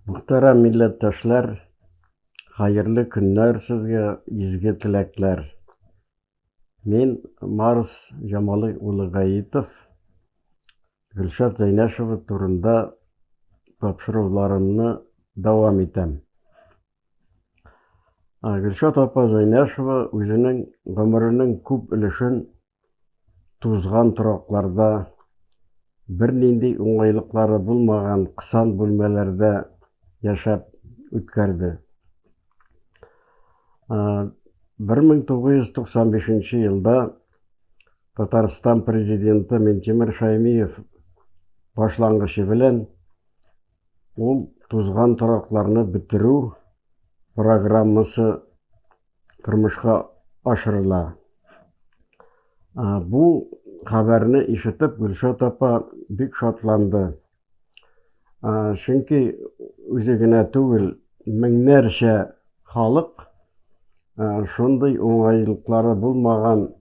Мөхтәрәм милләттәшләр, хәерле көннәр сезгә, изге теләкләр. Мин Марс Җамалы улы Гаитов. Гөлшат Зәйнәшева турында тапшыруларымны дәвам итәм. Гөлшат апа Зәйнәшева үзенең гомеренең күп өлешен тузган торакларда, бернинди уңайлыклары булмаган кысан бүлмәләрдә яшәп үткәрде. 1995 елда Татарстан президенты Минтимер Шаймиев башлангычы белән Ул тузган торакларны бетерү программасы тормышка ашырыла. Бу хәбәрне ишетеп Гөлшат апа бик шатланды. Чөнки үзе генә түгел, меңнәрчә халык шундый уңайлыклары булмаган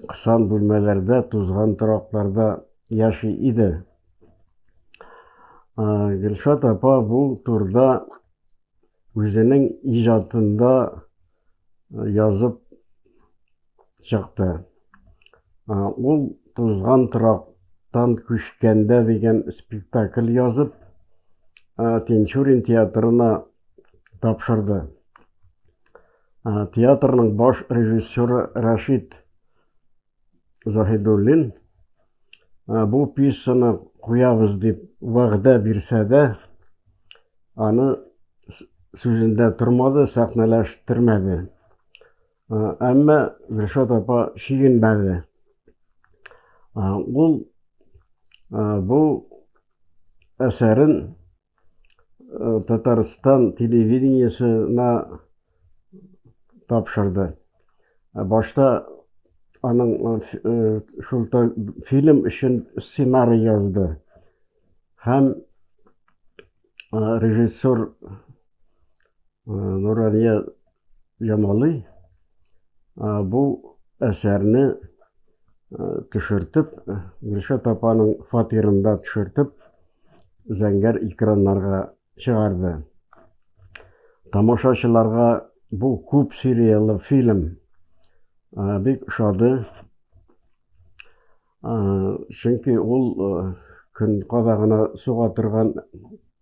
кысан бүлмәләрдә, тузган торакларда яши иде. Гөлшат апа бу турда үзенең иҗатында язып чыкты. Ул тузган торактан күчкәндә дигән спектакль язып, Тинчурин театрына тапшырды. Театрның баш режиссеры Рашид Заһидуллин ә, бу пьесаны куябыз дип вәгъдә бирсә дә, аны сүзендә тормады, сәхнәләштермәде. Әмма Гөлшат апа чигенмәде. Ул бу әсәрен э, Татарстан телевидениесына тапшырды. Э, башта аның э, шул фильм өчен сценарий язды. Һәм режиссер Нурания Ямалый бу әсәрне төшертеп, Гөлшат апаның фатирында төшертеп, зәңгәр экраннарга чыгарды. Тамашачыларга бу күп сериялы фильм бик ошады. Чөнки ул көн кадагына суга торган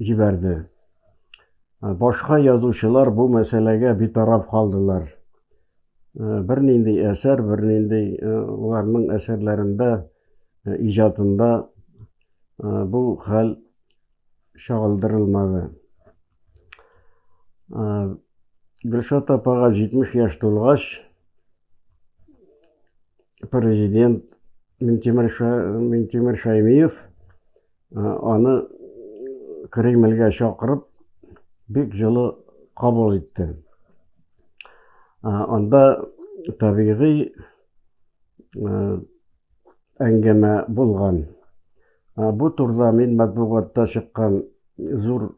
җибәрде. Башка язучылар бу мәсьәләгә битараф калдылар. Бернинди әсәр, бернинди уларның әсәрләрендә, иҗатында бу хәл чагылдырылмады. Гөлшат апага 70 яшь тулгач, президент Минтимер Шәймиев Аны Кремльгә чакырып, бик җылы кабул итте. Анда табигый әңгәмә булган. Бу турда мин матбугатта чыккан зур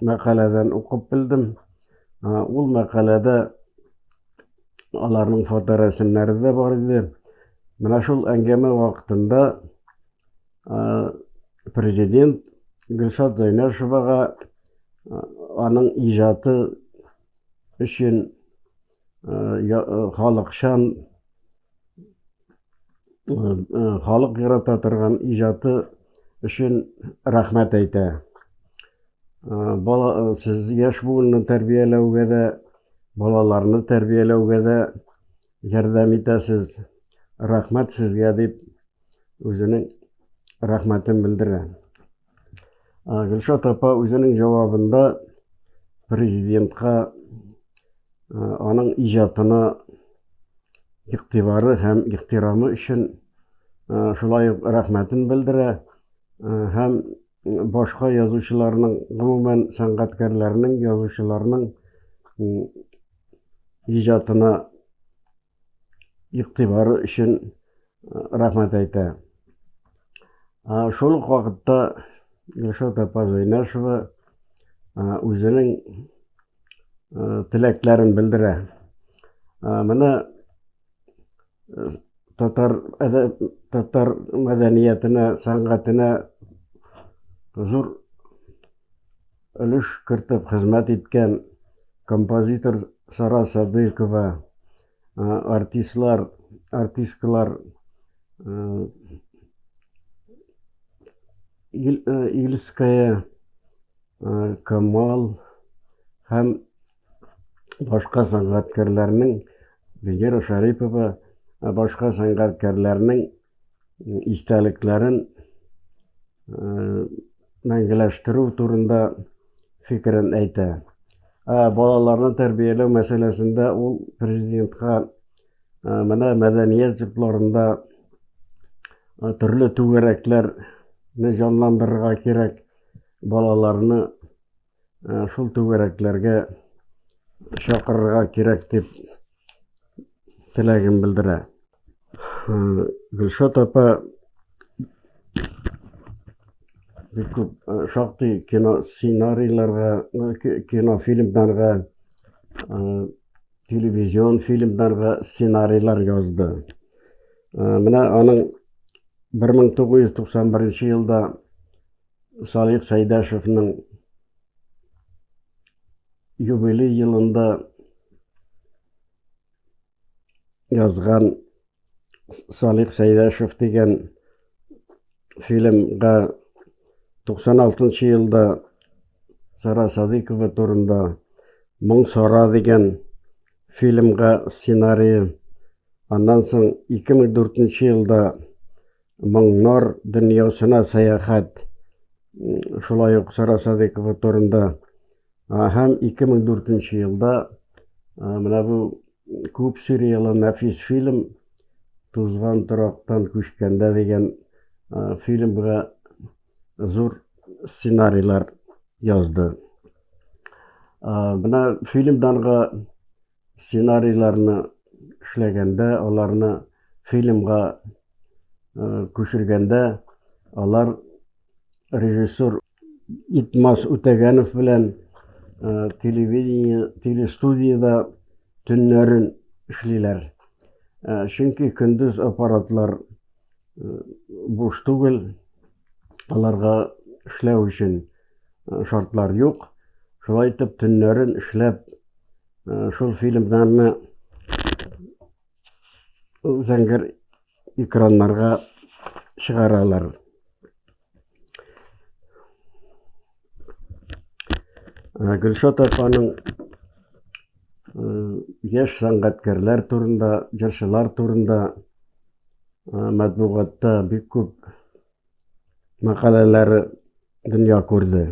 мәкаләдән укып белдем. Ул мәкаләдә аларның фоторәсемнәре дә бар иде. Менә шул әңгәмә вакытында президент Гөлшат Зәйнәшевага аның иҗаты өчен халыкчан халык ярата торган иҗаты өчен рәхмәт әйтә. Бала сез яшь буынны тәрбияләүгә дә, балаларны тәрбияләүгә дә Ярдәм итәсез, рәхмәт сезгә, дип үзенең рәхмәтен белдерә. Гөлшат апа үзенең җавабында президентка аның иҗатына игътибары һәм ихтирамы өчен шулай ук рәхмәтен белдерә һәм башка язучыларның, гомумән, сәнгатькәрләрнең, язучыларның иҗатына игътибары өчен рәхмәт әйтә. Шул ук вакытта Гөлшат апа Зәйнәшева үзенең теләкләрен белдерә. Менә татар татар мәдәниятенә сәнгатенә зур өлеш кертеп хезмәт иткән композитор сара садыйкова артистлар артисткалар ильская камал һәм башка сәнгатькәрләрнең Венера Шәрипова башка сәнгатькәрләрнең истәлекләрен мәңгеләштерү турында фикерен әйтә. Ә балаларны тәрбияләү мәсьәләсендә ул президентка менә мәдәният йортларында төрле түгәрәкләрне җанландырырга кирәк, балаларны э, шул түгәрәкләргә чакырырга кирәк дип теләген белдерә. Э, Гөлшат апа бик күп э, шактый кино сценарийларга, кинофильмнарга, телевизион фильмнарга сценарийлар язды. Менә аның 1991 елда Салих Сәйдәшевнең юбилей елында язган Салих Сәйдәшев дигән фильмга 96 елда Сара Садыйкова турында Моң Сара дигән фильмга сценарий. Аннан соң 2004 елда моңнар дөньясына сәяхәт шулай ук Сара Садыкова турында һәм 2004 елда менә бу күп сериялы нәфис фильм Тузган торактан күчкәндә дигән фильмга зур сценарийлар язды. Менә фильмданга сценарийларны эшләгәндә, аларны фильмга күчергәндә, алар режиссер Итмас Үтәгәнов белән телевидение, телестудиядә төннәрен эшлиләр. Чөнки көндез аппаратлар буш түгел, аларга эшләү өчен шартлар юк. Шулай итеп, төннәрен эшләп, шул фильмнарны зәңгәр экраннарга чыгаралар. Э, гөлшат апаның э, яшь сәнгатькәрләр турында җырчылар турында э, матбугатта бик күп мәкаләләре дөнья күрде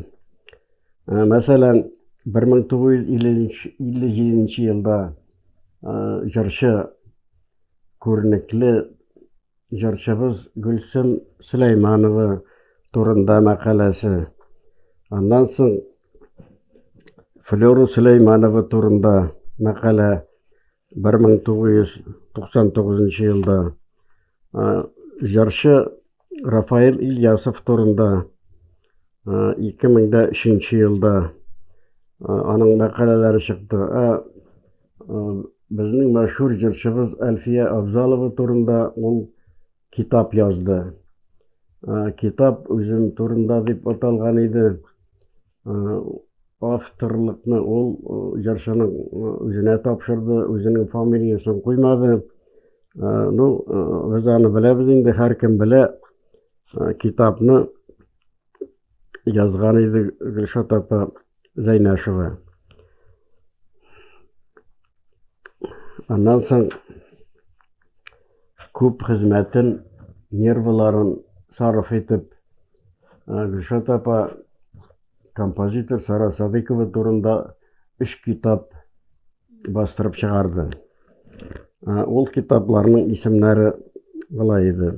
мәсәлән 1957 елда җырчы күренекле җырчыбыз Гөлсем Сөләйманова турында мәкаләсе. Аннан соң Флёра Сөләйманова турында мәкалә 1999 елда. Җырчы Рафаэль Ильясов турында 2003 елда аның мәкаләләре чыкты. Безнең мәшһүр җырчыбыз Әлфия Абзалова турында ул китап язды. Китап үзем турында дип аталган иде. Авторлыкны ул җырчының үзенә тапшырды, үзенең фамилиясен куймады. Ну, без аны беләбез инде, һәркем белә китапны. язган иде Гөлшат апа Зәйнәшева. Аннан соң күп хезмәтен, нервыларын сарыф итеп Гөлшат апа композитор Сара Садыкова турында үш китап бастырып чыгарды. Ул китапларның исемнәре былай иде.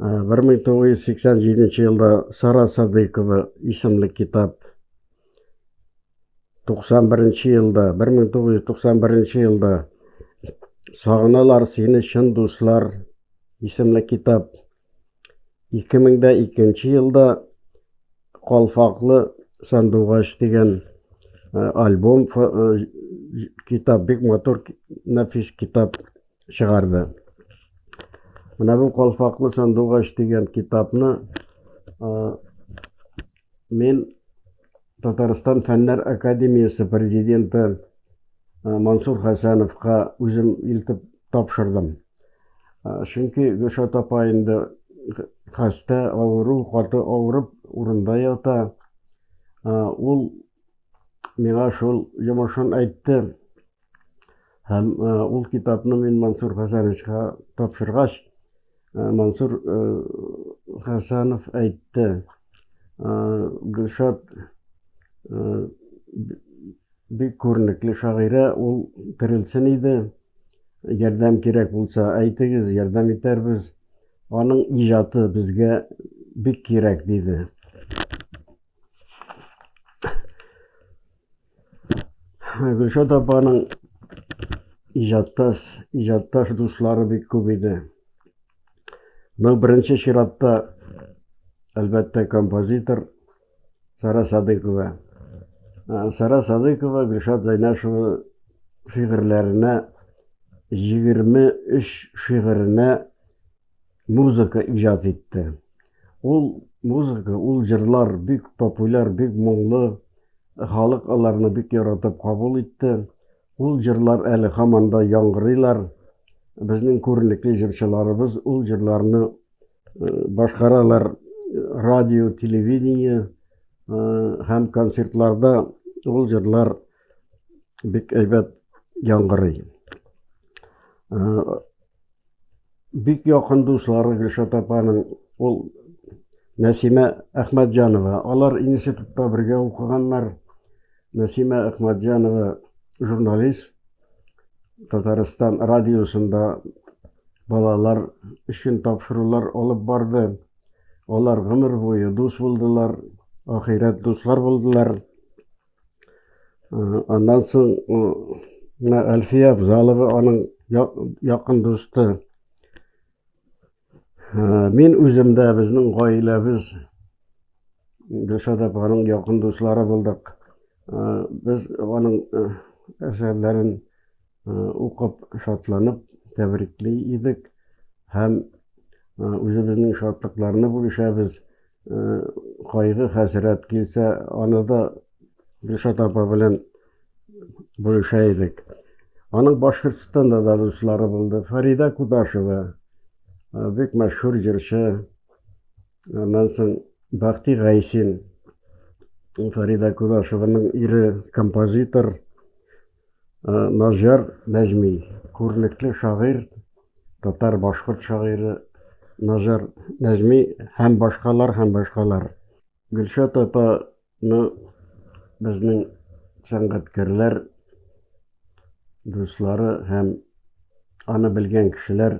Бер мең тугыз йөз сиксән җиденче елда Сара Садыйкова исемле китап. 91 елда, 1991 елда Сагыналар сине чын дуслар исемле китап. 2002 елда Калфаклы сандугач дигән альбом китап бик матур нәфис китап чыгарды. Менә бу Калфаклы сандугач дигән китапны мин Татарстан Фәннәр академиясе президенты Мансур Хәсәновка үзем илтеп тапшырдым. Чөнки Гөлшат апа инде хәстә, авыру, каты авырып, урында ята. Ул миңа шул йомышын әйтте. Һәм ул китапны мин Мансур Хәсәновичка тапшыргач, Мансур Хәсәнов әйтте, Гөлшат бик күренекле шагыйрә, ул терелсен иде, ярдәм кирәк булса, әйтегез, ярдәм итәрбез. Аның иҗаты безгә бик кирәк, диде. Гөлшат апаның иҗаттас, иҗатташ дуслары бик күп иде. Ну, беренче чиратта, әлбәттә, композитор Сара Садыкова. Сара Садыкова Гөлшат Зайнашева шигырьләренә 23 шигыренә музыка иҗат итте. Ул музыка, ул җырлар бик популяр, бик моңлы. Халык аларны бик яратып кабул итте. Ул җырлар әле һаман да яңгырыйлар. Безнең күренекле җырчыларыбыз ул җырларны э, башкаралар радио, телевидение э, һәм концертларда ул җырлар бик әйбәт яңгырый. Бик якын дуслары Гөлшат апаның ул Нәсимә Әхмәтҗанова. Алар институтта бергә укыганнар. Нәсимә Әхмәтҗанова журналист. Татарстан радиосында балалар өчен тапшырулар алып барды. Алар гомер буе дус булдылар, ахирәт дуслар булдылар. аннан соң мына әлфия абзалова аның якын дусты мин үзем дә безнең гаиләбез гөлшат апаның якын дуслары булдык без аның әсәрләрен укып, шатланып тәбрикли идек һәм үзебезнең шатлыкларны бүлешәбез. Кайгы, хәсрәт килсә, аны да Гөлшат апа белән бүлешә идек. Аның Башкортстанда да дуслары булды. Фарида Кудашева, бик мәшһүр җырчы. Аннан соң Бахти Гайсин, Фарида Кудашеваның ире, композитор. Назяр Нәҗми, күренекле шагыйрь, татар-башкорт шагыйре Назяр Нәҗми һәм башкалар һәм башкалар. Гөлшат апаны безнең сәнгатькәрләр дуслары һәм аны белгән кешеләр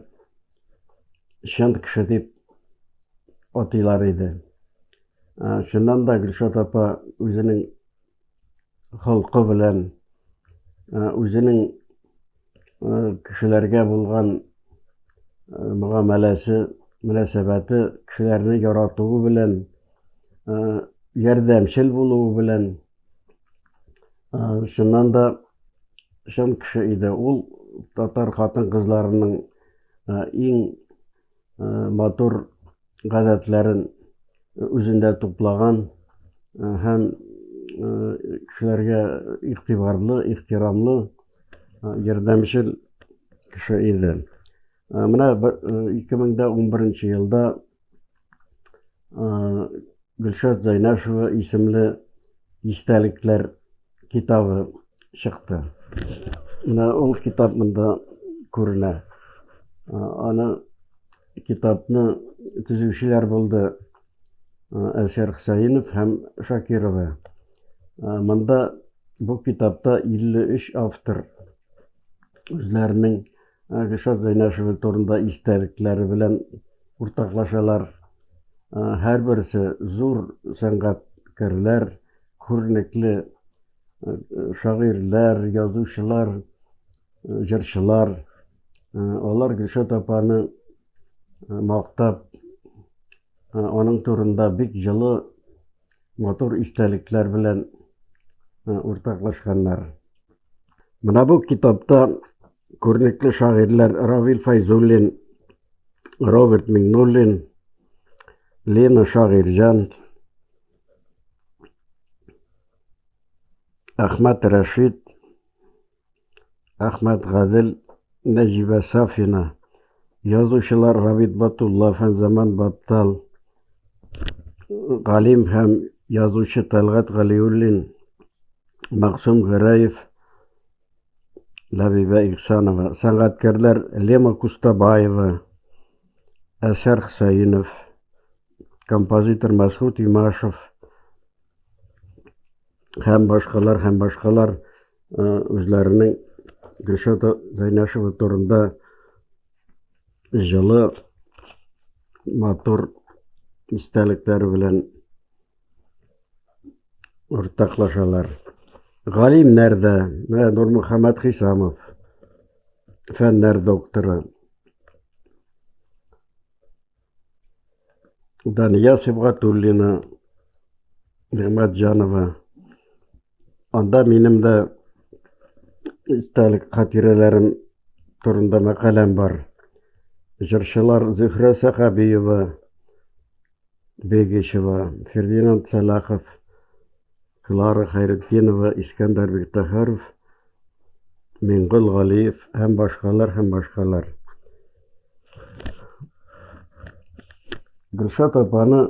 чын кеше дип атыйлар иде. Чыннан да Гөлшат апа үзенең холкы белән, үзенең кешеләргә булган мөгамәләсе, мөнәсәбәте, кешеләрне яратуы белән, ярдәмчел булуы белән, чыннан да чын кеше иде. Ул татар хатын-кызларының иң матур гадәтләрен үзендә туплаган һәм кешеләргә игътибарлы, ихтирамлы, ярдәмчел кеше иде. Менә 2011 елда Гөлшат Зайнашева исемле истәлекләр китабы чыкты. Менә ул китап монда күренә. Аны китапны төзүчеләр булды Әлшәр Хөсәенов һәм Шакирова. Монда бу китапта 53 автор үзләренең Гөлшат Зәйнәшева турында истәлекләре белән уртаклашалар. Һәрберсе зур сәнгатькәрләр, күренекле шагыйрьләр, язучылар, җырчылар. Алар Гөлшат апаны мактап, аның турында бик җылы, матур истәлекләр белән уртаклашканнар. Менә бу китапта күренекле шагыйрьләр Равил Файзуллин, Роберт Миңнуллин, Лена Шагыйрьҗан, Ахмат Рашид, Ахмат Гадел, Нәҗибә Сафина, язучылар Рабит Батулла, Фәнзаман Баттал, Галим һәм язучы Талгат Галиуллин, Максум Гыраев, Ләбибә Ихсанова, сәнгатькәрләр Лема Кустабаева, Әсәр Хсаинов, композитор Мәсхут Имашев һәм башкалар һәм башкалар үзләренең Гөлшат Зайнашева турында җылы матур истәлекләре белән уртаклашалар. Галимнәр дә, менә Нурмөхәммәт Хисамов, фәннәр докторы, Дания Сибгатуллина, Нигъмәтҗанова, Анда минем дә истәлек хатирәләрем турында мәкаләм бар. Җырчылар Зөһрә Сәхәбиева, Бегишева, Фердинанд Сәлахов, Клара Хәйретдинова, Искәндәр Биктахаров Мингол Галиев һәм башкалар һәм башкалар. Гөлшат апаны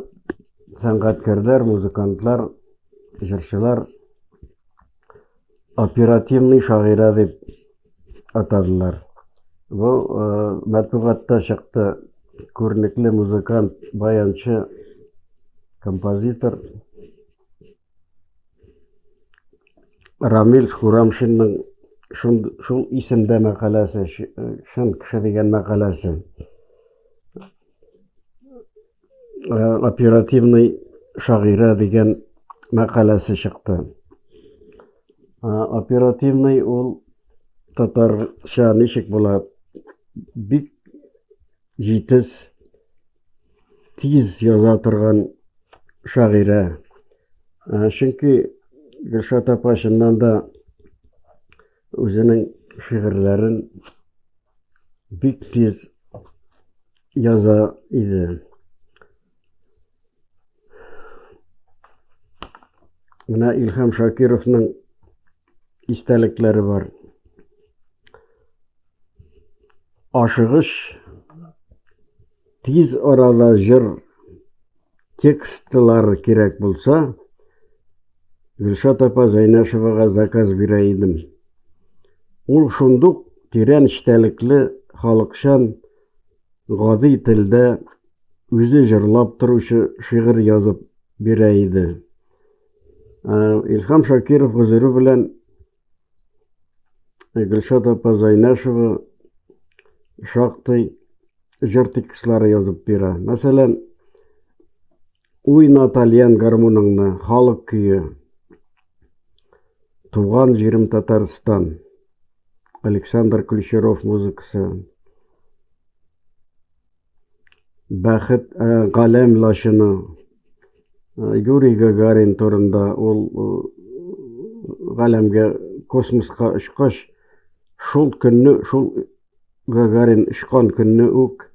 сәнгатькәрләр, музыкантлар, җырчылар оперативный шагыйрә дип атадылар. Бу э, матбугатта чыкты күренекле музыкант, баянчы, композитор Рамил Хурамшинның шул, шул исемдә мәкаләсе, шын кеше дигән мәкаләсе. Э, оперативный шагыйрә дигән мәкаләсе чыкты. Э, оперативный ул татарча ничек була? Бик җитез тиз яза торган шагыйрә. Ә, чөнки Гөлшат апа чыннан да үзенең шигырьләрен бик тиз яза иде. Менә Илһам Шакировның истәлекләре бар. Ашыгыч тиз арада җыр текстлар кирәк булса, Гөлшат апа Зәйнәшевага заказ бирә идем. Ул шундук тирән эчтәлекле, халыкчан, гади телдә үзе җырлап торучы шигырь язып бирә иде. Илхам Шакиров гозере белән Гөлшат апа Зайнашева шактый җыр текстлары язып бирә. Мәсәлән, Уйна тальян гармуныңны, халык көе. Туган җирем Татарстан. Александр Ключеров музыкасы. Бәхет э, галәм лачыны. Э, Юрий Гагарин турында ул э, галәмгә космоска очкач, шул көнне, шул Гагарин очкан көнне үк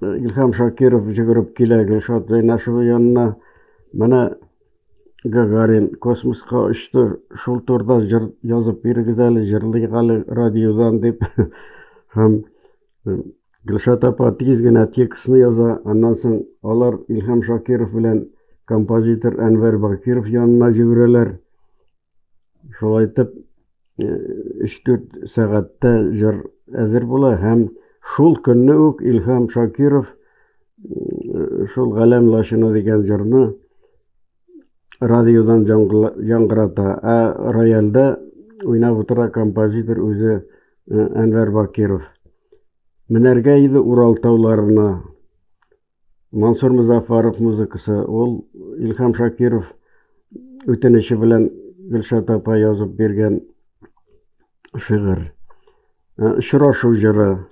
Илһам Шакиров жүгереп килә Гөлшат Зәйнәшева янына. Менә Гагарин космоска очты, шул турда җыр язып бирегез әле, җырлыйк әле радиодан дип. Һәм э, Гөлшат апа тиз генә текстны яза, аннан соң алар Илһам Шакиров белән композитор Әнвәр Бакиров янына җибәрәләр. Шулай итеп, 3-4 э, сәгатьтә җыр әзер була һәм шул көнне үк Илһам Шакиров э, шул Галәм лашына дигән җырны радиодан яңгырата, ә рояльдә уйнап утыра композитор үзе э, Әнвәр Бакиров. Менәргә иде Урал тауларына, Мансур Музафаров музыкасы, ул Илхам Шакиров үтенече белән Гөлшат апа язып биргән шигырь. Очрашу җыры.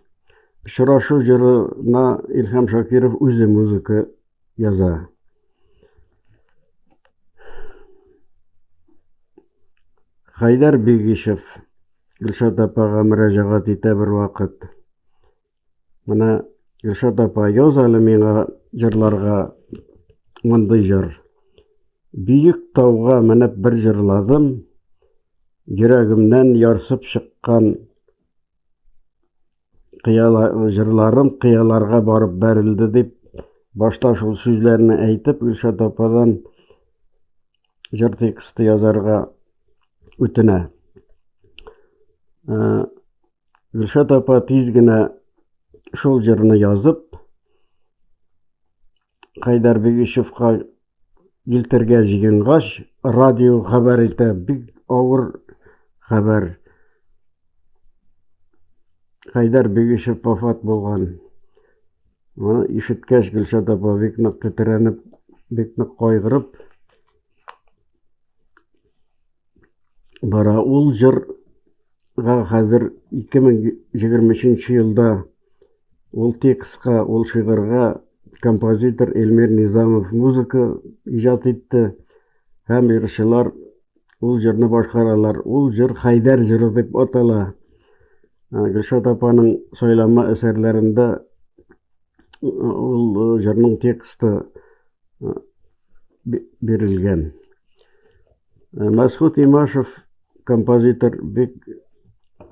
Очрашу җырына Илхам Шакиров үзе музыка яза. Хайдар Бигишев Гөлшат апага мөрәҗәгать итә бервакыт. Менә Гөлшат апа, яз әле миңа җырларга мондый җыр. Биек тауга менеп бер җырладым, йөрәгемнән ярсып чыккан җырларым кыяларга барып бәрелде дип, башта шул сүзләрне әйтеп, Гөлшат ападан җыр тексты язарга үтенә. Ә, Гөлшат апа тиз генә шул җырны язып, Хайдар Бегишевка илтергә җыенгач, радио хәбәр итә, бик авыр хәбәр. Хайдар Бегишев вафат булган. Моны ишеткәч, Гөлшат апа бик нык тетрәнеп, бик нык кайгырып, бара. Ул җырга хәзер 2023 елда ул текстка, ул шигырьгә композитор Эльмир Низамов музыка иҗат итте һәм җырчылар ул җырны башкаралар. Ул җыр Хәйдәр җыры дип атала. Гөлшат апаның сайлама әсәрләрендә ул э, җырның тексты э, бирелгән э, мәсхүт имашев композитор бик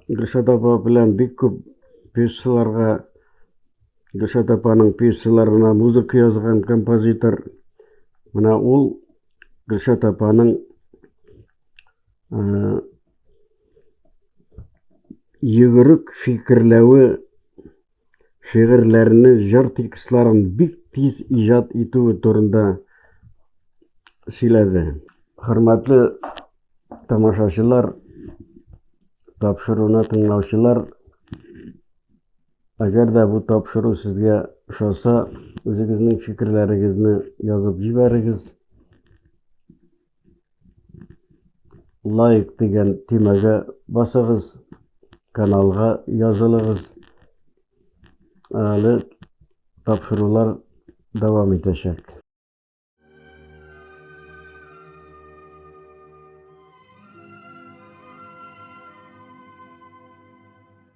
гөлшат апа белән бик күп пьесаларга гөлшат апаның пьесаларына музыка язган композитор менә ул гөлшат апаның йөгерек фикерләве шигырьләрне, җыр текстларын бик тиз иҗат итүе турында сөйләде. Хөрмәтле тамашачылар, тапшыруны тыңлаучылар, әгәр дә бу тапшыру сезгә ошаса, үзегезнең фикерләрегезне язып җибәрегез. лайк дигән төймәгә басыгыз, каналга язылыгыз. Әле тапшырулар дәвам итәчәк.